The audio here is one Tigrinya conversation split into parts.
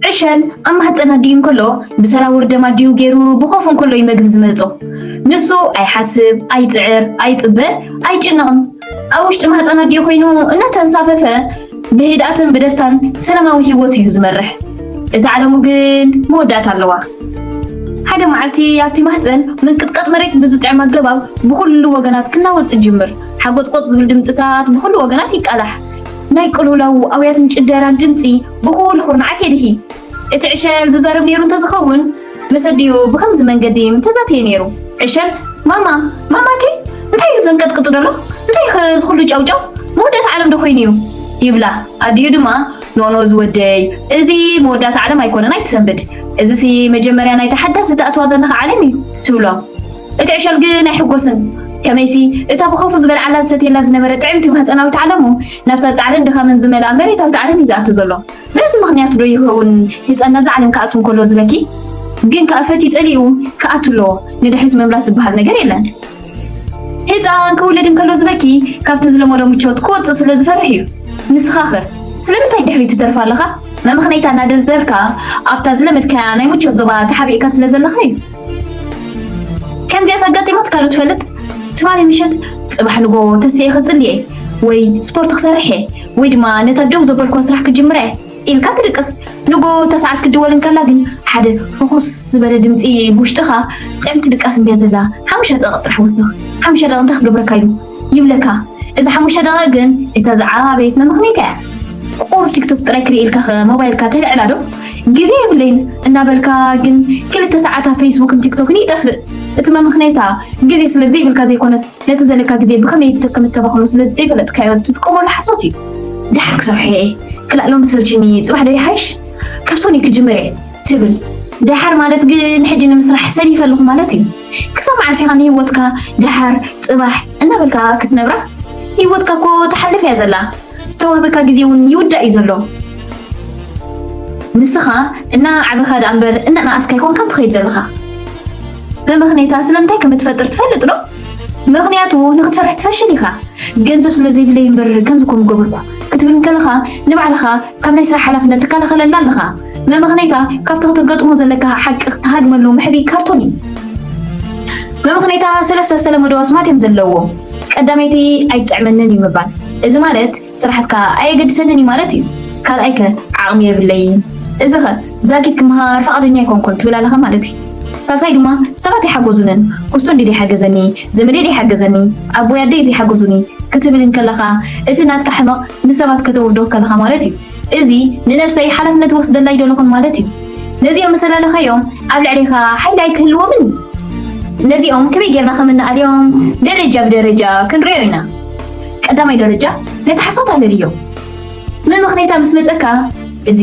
ዕሸል ኣብ ማህጸን ኣዲኡ እንከሎ ብሰራውር ደም ኣዲኡ ገይሩ ብኾፍ እንከሎ እዩ መግቢ ዝመጾ። ንሱ ኣይሓስብ፣ ኣይጽዕር፣ ኣይጽበ፣ ኣይጭነቕን። ኣብ ውሽጢ ማህጸን ኣዲኡ ኮይኑ እናተንሳፈፈ ብህድኣትን ብደስታን ሰላማዊ ህይወት እዩ ዝመርሕ። እዛ ዓለሙ ግን መወዳእታ ኣለዋ። ሓደ መዓልቲ ኣብቲ ማህጸን ምንቅጥቀጥ መሬት ብዝጥዕም ኣገባብ ብኹሉ ወገናት ክናወጽ ይጅምር። ሓጎጽጎጽ ዝብል ድምጽታት ብኹሉ ወገናት ይቃላሕ። ናይ ቅልውላዉ ኣውያትን ጭደራን ድምጺ ብኹሉ ኩርናዓት የድሂ። እቲ ዕሸል ዝዛረብ ነይሩ እንተ ዝኸውን፣ ምስ ኣዲኡ ብኸምዚ መንገዲ ምተዛተየ ነይሩ። ዕሸል፣ ማማ! ማማ እቲ እንታይ እዩ ዘንቀጥቅጥ ዘሎ? እንታይ እዩኸ እዚ ኹሉ ጫውጫው? መወዳእታ ዓለምዶ ኮይኑ እዩ? ይብላ። ኣዲኡ ድማ፣ ኖኖ ዝወደይ፣ እዚ መወዳእታ ዓለም ኣይኮነን ኣይትሰንብድ። እዚሲ መጀመርያ ናይታ ሓዳስ እትኣትዋ ዘለኻ ዓለም እዩ። ትብሎ። እቲ ዕሸል ግን ኣይሕጎስን። ከመይሲ፣ እታ ብኸፉ ዝበልዓላ ዝሰትየላ ዝነበረ ጥዕምቲ ማህጸናዊት ዓለሙ፣ ናብታ ጻዕርን ድኻምን ዝመልኣ መሬታዊት ዓለም እዩ ዝኣቱ ዘሎ። በዚ ምኽንያት ዶ ይኸውን ህጻን ናብዛ ዓለም ክኣቱ እንከሎ ዝበኪ? ግን ከኣ ፈትዩ ጸሊኡ ክኣቱ ኣለዎ፣ ንድሕሪት ምምላስ ዝበሃል ነገር የለን። ህጻን ክውለድ እንከሎ ዝበኪ፣ ካብቲ ዝለመዶ ምቾት ክወጽእ ስለ ዝፈርሕ እዩ። ንስኻኸ ስለምንታይ ድሕሪት ትተርፍ ኣለኻ? መመኽነይታ እናደርደርካ ኣብታ ዝለመድካያ ናይ ምቾት ዞባ ተሓቢእካ ስለ ዘለኻ እዩ። ከምዚኣስ ኣጋጢማትካ ዶ ትፈልጥ? ትማሊ ምሸት ጽባሕ ንጎ ተሲኤ ክጽሊ እየ ወይ ስፖርት ክሰርሕ እየ ወይ ድማ ነታ ደው ዘበልክዋ ስራሕ ክጅምራ እየ ኢልካ ትድቅስ። ንጎ እታ ሰዓት ክትድወል እንከላ ግን ሓደ ፍኹስ ዝበለ ድምጺ ብውሽጥኻ ጥዕምቲ ድቃስ እንድያ ዘላ ሓሙሽተ ደቒቕ ጥራሕ ውስኽ ሓሙሽተ ደቒቕ እንታይ ክገብረካ ኢሉ ይብለካ እዚ ሓሙሽተ ደቂቅ ግን እታ ዝዓባበየት መመኽኒት እያ ቁሩብ ቲክቶክ ጥራይ ክርኢ ኢልካ ከ ሞባይልካ ተልዕላ ዶ ግዜ የብለይን እናበልካ ግን ክልተ ሰዓት ኣብ ፌስቡክን ቲክቶክን ይጠፍእ እቲ መመኽነይታ ግዜ ስለ ዘይብልካ ዘይኮነስ ነቲ ዘለካ ግዜ ብኸመይ ከም እተባኽኖ ስለ ዘይፈለጥካዮ እትጥቀመሉ ሓሶት እዩ ድሓር ክሰርሖ እየ ክላእ ሎሚ ሰልችኒ ጽባሕ ዶ ይሓይሽ ካብ ሶኒ ክጅምር እየ ትብል ድሓር ማለት ግን ሕጂ ንምስራሕ ሰኒፈ ኣለኹ ማለት እዩ ክሳብ መዓስ ኢኻ ንሂወትካ ደሓር ጽባሕ እናበልካ ክትነብራ ሂወትካ እኮ ትሓልፍ እያ ዘላ ዝተዋህበካ ግዜ እውን ይውዳእ እዩ ዘሎ ንስኻ እናዓበኻ ደኣ እምበር እናነኣስካ ኣይኮንካን ትኸይድ ዘለኻ ብምኽንያታ ስለምንታይ ከም እትፈጥር ትፈልጥ ዶ ምክንያቱ ንክትሰርሕ ትፈሽል ኢኻ ገንዘብ ስለ ዘይብለይ እምበር ከምዚ ኮም ገበርኩ ክትብል እንከለኻ ንባዕልኻ ካብ ናይ ስራሕ ሓላፍነት ትከላኸለላ ኣለኻ መመኽነይታ ካብቲ ከተገጥሞ ዘለካ ሓቂ ክትሃድመሉ መሕብኢ ካርቶን እዩ። መመኽነይታ ሰለስተ ዝተለመዱ ኣስማት እዮም ዘለውዎ። ቀዳመይቲ ኣይጥዕመንን እዩ ምባል። እዚ ማለት ስራሕትካ ኣየገድሰንን እዩ ማለት እዩ። ካልኣይከ ዓቕሚ የብለይን። እዚኸ ዛጊት ክመሃር ፍቓደኛ ኣይኮንኩን ትብል ኣለኻ ማለት እዩ። ሳልሳይ ድማ ሰባት ኣይሓጎዙንን። ኩስቶ እንድዩ ዘይሓገዘኒ፣ ዘመደይ ዘይሓገዘኒ፣ ኣቦይ ኣደይ ዘይሓጎዙኒ ክትብል እንከለኻ እቲ ናትካ ሕመቕ ንሰባት ከተውርዶ ከለኻ ማለት እዩ። እዚ ንነብሰይ ሓላፍነት ይወስደላ ኣይደለኹን ማለት እዩ። ነዚኦም ምስ ኣለለኻዮም ኣብ ልዕሌኻ ሓይሊ ኣይክህልዎምን እዩ። ነዚኦም ከመይ ጌርና ከም እንኣልዮም ደረጃ ብደረጃ ክንርእዮ ኢና። ቀዳማይ ደረጃ ነቲ ሓሶት ኣለልዮ። መመኽነይታ ምስ መጸካ እዚ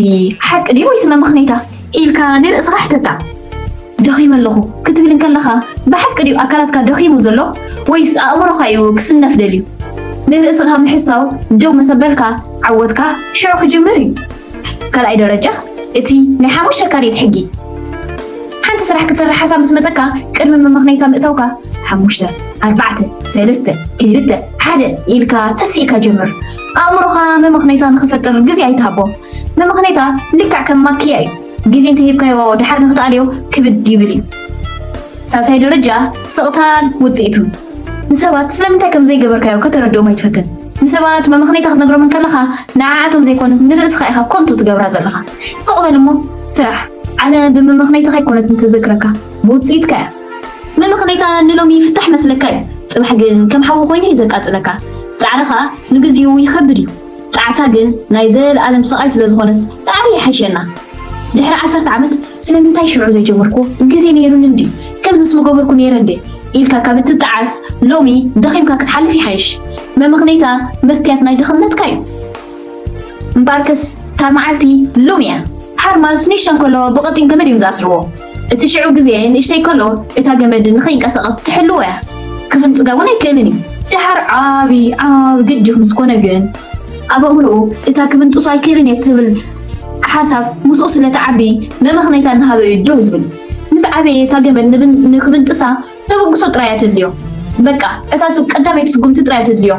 ሓቂ ድዩ ወይስ መመኽነይታ? ኢልካ ንርእስኻ ሕተታ። ደኺመ ኣለኹ ክትብል እንከለኻ ብሓቂ ድዩ ኣካላትካ ደኺሙ ዘሎ ወይስ ኣእምሮኻ እዩ ክስነፍ ደልዩ? ንርእስኻ ምሕሳው ደው ምስ ኣበልካ ዓወትካ ሽዑ ክጅምር እዩ። ካልኣይ ደረጃ እቲ ናይ ሓሙሽተ ካልኢት ሕጊ። ሓንቲ ስራሕ ክትሰርሕ ሓሳብ ምስ መጸካ ቅድሚ መመኽነይታ ምእታውካ ሓሙሽተ፣ ኣርባዕተ፣ ሰለስተ፣ ክልተ፣ ሓደ ኢልካ ተሲእካ ጀምር። ኣእምሮኻ መመኽነይታ ንኽፈጥር ግዜ ኣይትሃቦ። ንምኽኔታ ልክዕ ከም ማክያ እዩ፣ ግዜ እንተሂብካዮ ደሓር ንኽትኣልዮ ክብድ ይብል እዩ። ሳልሳይ ደረጃ ስቕታን ውጽኢቱን። ንሰባት ስለምንታይ ከም ዘይገበርካዮ ከተረድኦም ኣይትፈትን። ንሰባት መመኽኔታ ክትነግሮም እንከለኻ ንዓኣቶም ዘይኮነስ ንርእስኻ ኢኻ ኮንቱ ትገብራ ዘለኻ። ስቕ በል እሞ ስራሕ። ዓለም ብመመኽኔትኻ ኣይኮነትን ትዝክረካ፣ ብውጽኢትካ እያ። መመኽኔታ ንሎሚ ይፍታሕ መስለካ እዩ፣ ጽባሕ ግን ከም ሓዊ ኮይኑ እዩ ዘቃጽለካ። ጻዕርኻ ንግዚኡ ይኸብድ እዩ። ጣዕሳ ግን ናይ ዘልኣለም ስቃይ ስለ ዝኮነስ ጻዕሪ ይሓይሸና ድሕሪ ዓሰርተ ዓመት ስለምንታይ ሽዑ ዘይጀመርክዎ ግዜ ነይሩኒ እንድዩ ከምዝስ ምገበርኩ ነይረ እንድየ ኢልካ ካብ እትጣዓስ ሎሚ ደኺምካ ክትሓልፍ ይሓይሽ መመኽነይታ መስትያት ናይ ድኽነትካ ዩ እምበኣርከስ እታ መዓልቲ ሎሚ እያ ሓርማዝ ኒሻ እንከለዋ ብቀጢን ገመድ እዮም ዝኣስርዎ። እቲ ሽዑ ግዜ ንእሽተይ ከሎ እታ ገመድ ንኸይንቀሳቐስ ትሕልዎ እያ። ክፍንጽጋ እውን ኣይክእልን እዩ። ደሓር ዓቢ ዓቢ ግጅፍ ምስ ኮነ ግን ኣብ ኣእምሮኡ እታ ክብንጥሶ ኣይክእልን እየ እትብል ሓሳብ ምስኡ ስለ ትዓቢ መመኽነይታ እናሃበ እዩ ደው ዝብል። ምስ ዓበየ እታ ገመድ ንክብንጥሳ ተበግሶ ጥራይ እያ ተድልዮ በቃ እታ ሱብ ቀዳመይቲ ስጉምቲ ጥራይ እያ ተድልዮ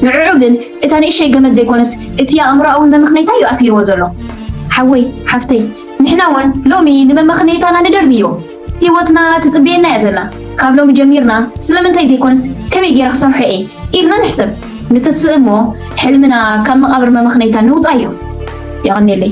ንዑዑ ግን እታ ንእሸይ ገመድ ዘይኮነስ እቲ ኣእምሮኣዊ መመኽነይታ እዩ ኣሲርዎ ዘሎ ሓወይ ሓፍተይ ንሕና ውን ሎሚ ንመመኽነይታና ንደርብዮ ሂወትና ትጽብየና እያ ዘላ ካብ ሎሚ ጀሚርና ስለምንታይ ዘይኮነስ ከመይ ጌረ ክሰርሖ እየ ኢልና ንሕሰብ ንትስእ እሞ ሕልምና ካብ መቓብር መመኽነይታ ነውጻዮ የቐኔለይ።